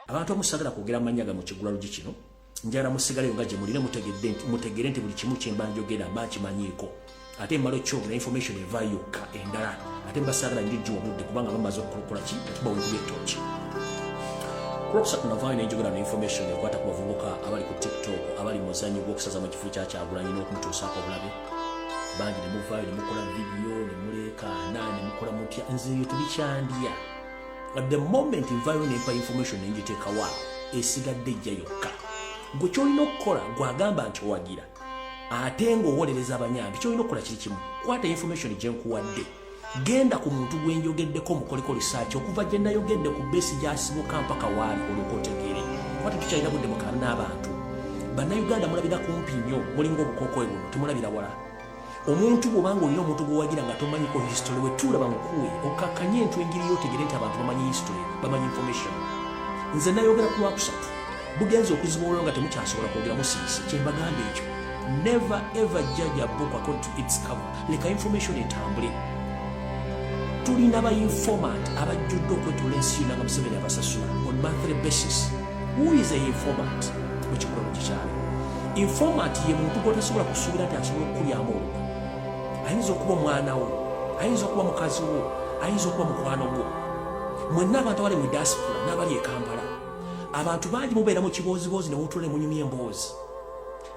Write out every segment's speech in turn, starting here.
abantu abamu sagala kwogera mannya ga mu kigulalugi kino njala musigaleyo nga gyemuli ne mutegedde nti mutegere nti buli kimu kyemba njogera mba nkimanyiiko ate emmala okyogera information eva yokka endala ate mbasaagala njojji wabudde kubanga bamaze okukola ki atubawekuba ettooki kulwokusatu navaayo nenjogera ne information ekwata ku bavubuka abali ku tiktok abali muzanyi gwokusaza mu kifo kya kyagulanyi n'okumutuusaako obulabe bangi ne muvaayo ne mukola vidiyo ne muleekaana ne mukola mutya nze eyo tubikyandya at the moment nvayo nempa information nenjitekawa esigadde ejja yokka gwe kyolina okukola gwagamba nti owagira ate ngaowolereza abanyambi kyolina okukola kiri kimu kwata information gyenkuwadde genda ku muntu gwe njogeddeko mukoleko risaaki okuva gye nayogedde ku beesi gyasibuka mpaka waali olwoka otegeere kuba tetukyalina budde mukaana n'abantu bannayuganda mulabira kumpi nnyo mulinga obukokoe buno temulabira wala omuntu bwobanga olina omuntu gwewagira nga tomanyiko history we tulaba mukuwe okakkanye entu engiri yotegere nti abantu bamanyi history bamanyi information nze nayogera ku lwakusatu bugenza okuziba olwo nga temukyasobola kwogera musiisi kyembagamba ekyo never ever judge a book according to its cover leka information etambule tulina ba informant abajjudde okwetula ensi yona nga museveni abasasula on monthly basis who is a informant mu kikula mu kikyalo informant ye muntu gwotasobola kusuubira nti asobola okukulyamu olwo ayinza okuba omwana wo ayinza okuba mukazi wo ayinza okuba mukwano gwo mwenna abantu abali mu diaspora n'abali e kampala abantu bangi mubeera mu kibooziboozi ne wotula ne munyumya emboozi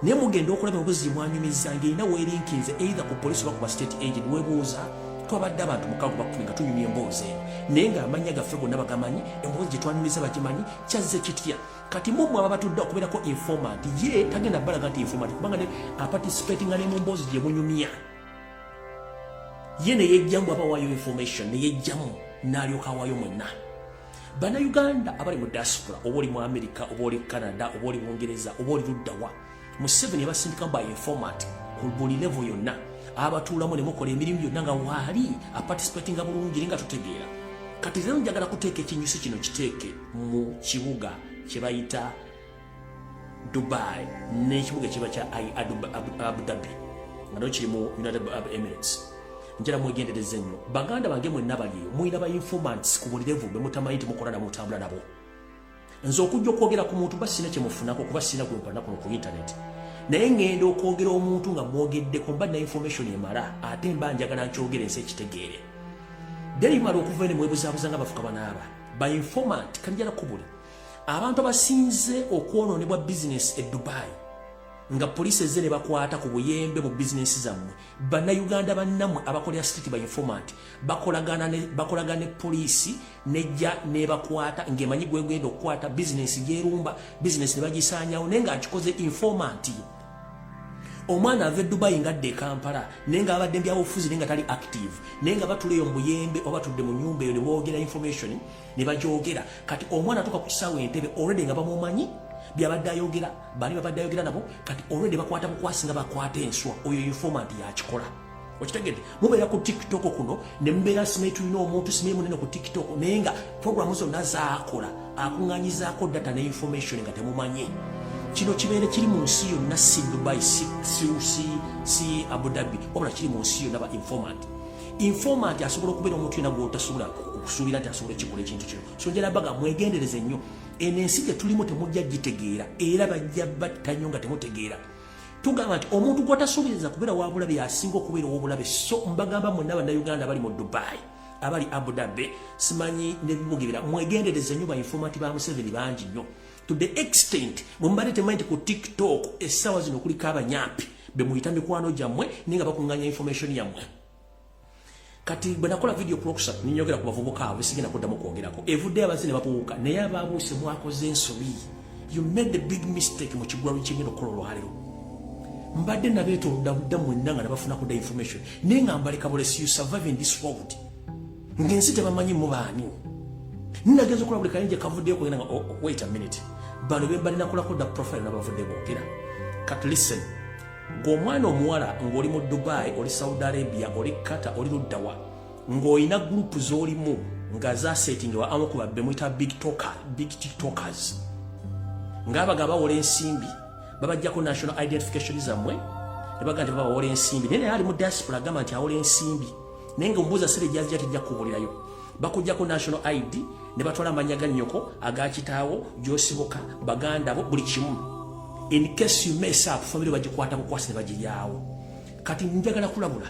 naye mugenda okulaba obuzi mwanyumiza ng'erina weerinkinze eitha ku polisi oba ku ba state agent webuuza twabadde abantu mukago bakumi nga tunyumya emboozi eno naye ng'amannya gaffe gonna bagamanyi emboozi gye twanyumiza bagimanyi kyazze kitya kati mumwe aba batudde okubeerako informant ye tagenda balaga nti informant kubanga ne aparticipatinga ne mu mboozi gye munyumya ye ne yejjamu aba wayo information ne yejjamu n'alyoka awayo mwenna bannayuganda abali mu diaspora oba oli mu amerika oba oli canada oba oli bungereza oba oli luddawa museveni yabasindikamu by informat ku buli levo yonna abatuulamu ne mukola emirimu gyonna nga waali aparticipatinga bulungi ri nga tutegeera kati rero njagala kuteeka ekinyusi kino kiteeke mu kibuga kye bayita dubai n'ekibuga ekiba kya abu dhabi nga no kiri mu united arab emirates njala mwegendereze nnyo baganda bange mwenna baliyo mulina ba informants ku bulirevu be mutamanyi timukola na mutambula nabo nze okujja okwogera ku muntu ba sina kyemufunako kuba sina gwempana kuno ku intaneti naye ngenda okwogera omuntu nga mwogeddeko mba na information emala ate mba njagala nkyogera ensi ekitegeere deri mala okuva ene mwebuzabuza nga bafuka banaaba ba informant kanjala kubuli abantu abasinze okwonoonebwa bizinesi e dubayi nga poliisi ezze ne bakwata ku buyembe mu bizinesi zammwe bannayuganda bannamwe abakolera sititi ba informant bakolagana ne poliisi nejja nebakwata ng'emanyi gwegenda okukwata bizinesi gyerumba bizinesi ne bagisaanyawo naye ng'akikoze informanti ye omwana ava edubayi nga adda ekampala naye nga abadde mbyabufuzi naye nga tali active naye nga batuleyo mubuyembe oba tudde mu nyumba eyo neboogera information ne bagyogera kati omwana atuka ku kisaawe entebe olwedde nga bamumanyi byabadde ayogera bali babadde ayogera nabo kati olwedde bakwata bukwasi nga bakwata enswa oyo informant yakikola okitegedde mubeera ku tiktok kuno ne mubeera simayi tulina omuntu simayi munene ku tiktok naye nga programu zonna zaakola akuŋŋanyizaako data ne information nga temumanyi kino kibeere kiri mu nsi yonna si dubai si, si, si, si abu dhabi wabula kiri mu nsi yonna ba informant informant asobola okubeera omuntu yena gwotasobola okusuubira nti asobola ekikola ekintu kino so njala baga mwegendereze nnyo eno ensi gyetulimu temujja gitegeera era bajja batta nnyo nga temutegeera tugamba nti omuntu gwatasuubiriza kubeera wabulabe yasinga okubeera owobulabe so mbagamba mwena bannayuganda bali mu dubai abali abu dhabi simanyi nebibugebera mwegendereze nnyo bainformanti ba museveni bangi nnyo to the extent bwemubadde temanyi nti ku tiktok essaawa zino kuliko abanyampi bemuyita mikwano gyammwe naye nga bakunganya information yammwe kati bwe nakola vidiyo ku lwokusatu ninyogera ku bavubuka abo sigenda kuddamu kwogerako evuddeyo abazi ne babuuka naye abaabuuse mwakoze ensobi you made a big mistake mu kigwalo kyengenda okukola olwaliro mbadde nabeetolodda budda mwenna nga nabafunako da information naye nga mbaleka bulesi you survive in this world ng'ensi tebamanyi mubaani nageza okulaba buli kayinja kavuddeyo kugenda nga oh, oh, wait a minute bano be mbalina kulako da profile nabavudde boogera kat listen ng'omwana omuwala ng'oli mu dubai oli saudi arabia oli kata oli luddawa ng'olina gurupu z'olimu nga zasetingewa amu ku babbe muyita big talker big tiktokers ng'abaga bawola ensimbi babajjako national identification zammwe ne baga nti babawola ensimbi naye naye ali mu diaspora agamba nti awola ensimbi naye nga omubuuza sire gyazija tejja kubulirayo bakujjako national id ne batwala amanya ga nnyoko aga kitaawo gyosibuka baganda bo buli kimu in case you mess up family bagikwata bukwasi ne bagiryawo kati njagala kulabula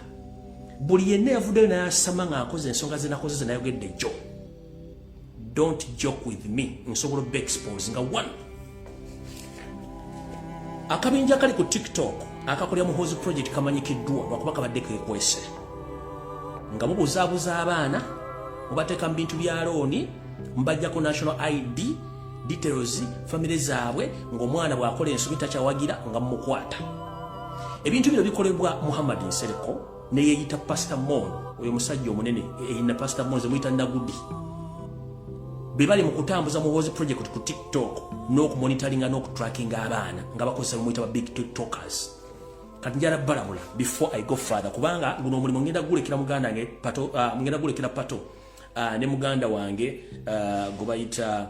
buli yenna yavuddeyo nayasama ng'akoze ensonga zenakoze zenayogedde jjo don't joke with me nsobola oba expose nga one akabinja akali ku tiktok akakolera muhozi project kamanyikiddwa lwakuba kabadde kekwese nga mubuzaabuza abaana mubateeka mu bintu bya looni mubajjako national id details famire zaabwe ng'omwana bw'akola ensobi takyawagira nga mumukwata ebintu bino bikolebwa muhammad nsereko neyeyita pastor mon oyo musajja omunene eyina pastor mon zemuyita nagudi bebali mukutambuza muwozi project ku tiktok n'okumonitaringa n'okutrackinga abaana nga bakozesa bemuyita ba big tiktokers kati njala balabula before i go father kubanga guno omulimu ngenda gulekera muganda nge pato uh, ngenda gulekera pato uh, ne muganda wange uh, ah, gobayita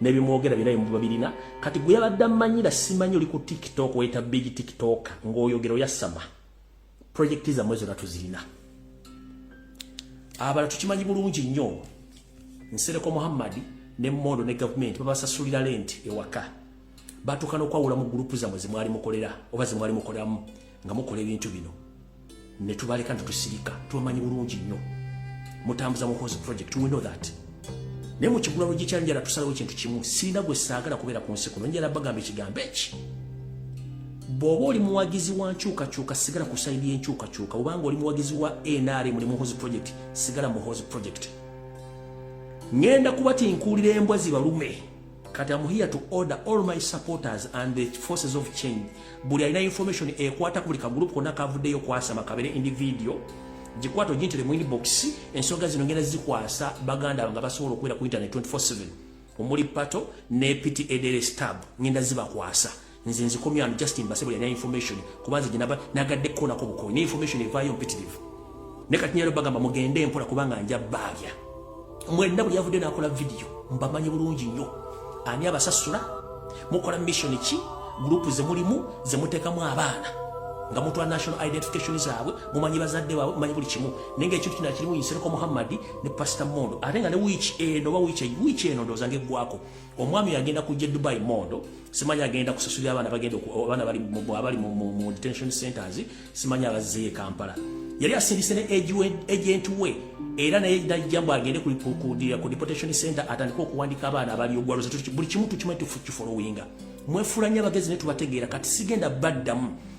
nebimwogera byona bimuba birina kati gwe yabadde amanyira simanyi oli ku tiktok weta big tiktok ngaoyogera oyasama projekiti zamwe zona tuzirina abala tukimanyi bulungi nnyo nsereko muhammadi ne mondo ne gavumenti babasasulira lenti ewaka batuuka nokwawula mu gurupu zamwe zemwali mukolera oba zemwali mukoleramu nga mukola ebintu bino ne tubaleka ne tusirika tubamanyi bulungi nnyo mutambuza muhoozi project we know that naye mu kigulano gikyanjala tusalawo ekintu kimu sirina gwe saagala kubeera ku nsi kuno njala bagamba ekigambo eki bw'oba oli muwagizi wa nkyukakyuka sigala ku saidi y'enkyukakyuka obanga oli muwagizi wa nrm ne muhoozi project sigala muhoozi project ŋenda kuba tinkuulira embwa zibalume kati am here to order all my supporters and the forces of change buli alina information ekwata ku buli kagroup kona kavuddeyo kwasama kabere individual gikwata ogintire mu inbox ensonga zino ngenda zikwasa baganda nga basobola okubeera ku internet 24/7 omuli pato ne pta dere stab ngenda zibakwasa nze nzikomye ano just mbasebo yalina information kuba nze gyenaba nagadde kukoonako bukoyi ne information evaayo mpitirivu ne kati nyalo bagamba mugende empola kubanga nja baabya mwenna buli yavudde nakola vidiyo mbamanyi bulungi nnyo ani abasasula mukola mission ki gurupu zemulimu zemuteekamu abaana nga mutwa national identification zaabwe mumanyi bazadde baabwe mumanyi buli kimu naye nga ekintu kino akirimu nsereko muhammadi ne pasita mondo ate nga ne wiiki eno oba wiiki eno ndowooza ngaeggwako omwami agenda kujja e dubai mondo simanyi agenda kusasulira abaana bagenda abaana abali mu detention centers simanyi abazzeeyo e kampala yali asindise ne agenti we era naye najja mbu agende ku deportation center atandike okuwandika abaana abali ogwaloza buli kimu tukimanyi tufukifolowinga mwefuula nnyo abagezi ne tubategeera kati sigenda baddamu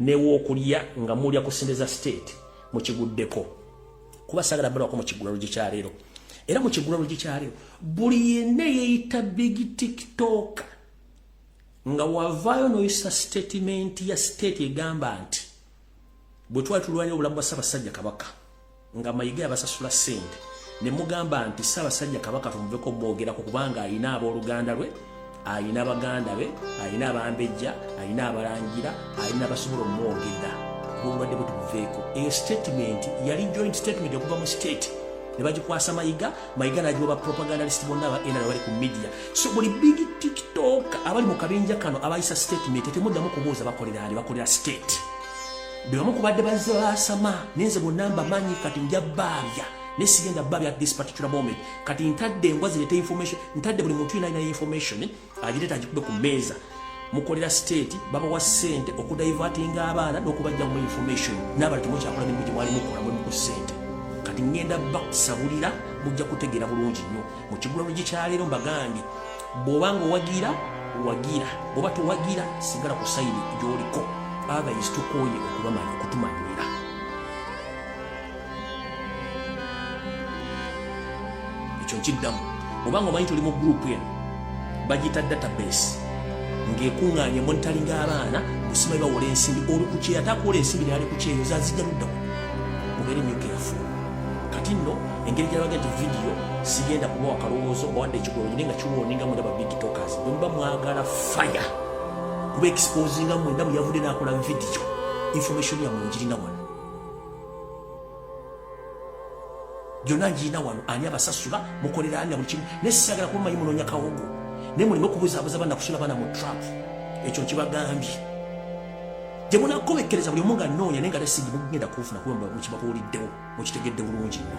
newokulya nga mulya ku sente za state mukiguddeko kuba sagala balwako mukigulalo gyekyaleero era mukigulalo gyekyaleero buli yenna yeyita big tiktok nga wavaayo noyisa sitatimenti ya state egamba nti bwe twali tulwanira obulamu bwa ssabasajja kabaka nga mayiga yabasasula sente nemugamba nti ssabasajja kabaka tumuveko mwogerako kubanga alina abooluganda lwe alina baganda be alina abambejja alina abalangira alina basobola omwogera obulwadde bwe tubuveeko eyo statement yali joint statement okuva mu state ne bagikwasa mayiga mayiga nagiwa ba propagandalist bonna aba nra bali ku media so buli big tiktok abali mu kabinja kano abayisa statement temuddamu kubuuza bakolera ali bakolera state bebamu kubadde bazze basama nenze bonna mbamanyi kati nja baabya naye sigenda baabya at this particular moment kati ntadde embwa zireeta information ntadde buli muntu yinalina information eh, agireeta agikube ku meeza mukolera state babawa sente okudivatinga abaana n'okubajja mu information n'abali temukyakola mirimu gye mwali mukola mulimu ku sente kati ŋŋenda bakusabulira mujja kutegeera bulungi nnyo mu kigulano gye kyaleero mbagambye bwoba nga owagira wagira bwoba towagira sigala ku sayini gyoliko otherwise tukoye okubamanya okutumanyira ekyo nkiddamu bwoba nga omanyi tuli mu gurupu eno bagiyita database ng'ekuŋŋaanya monitaringi abaana busima bawola ensimbi oli ku kyeyo ate akola ensimbi naali ku kyeyo zazigaluddamu mubeere nyo keyafu kati nno engeri gyalaga nti vidiyo sigenda kubawa kalowoozo mbawadde ekigolonyi naye nga kiwooninga mwena ba big tokers bwemuba mwagala faya kuba exposinga mwena bwe yavudde nakola vidiyo information yamwe ngirina wano gyonna ngirina wano ani abasasula mukolera ani na buli kimu naye sisagala kuba manyi munoonya kawogo naye muleme okubuzaabuza banakusula bana mu trump ekyo nkibagambye gye munakkomekkereza buli omu nga nnoonya naye nga tesigimu kugenda kuufuna kuba mukibabuuliddewo mukitegedde bulungi nnyo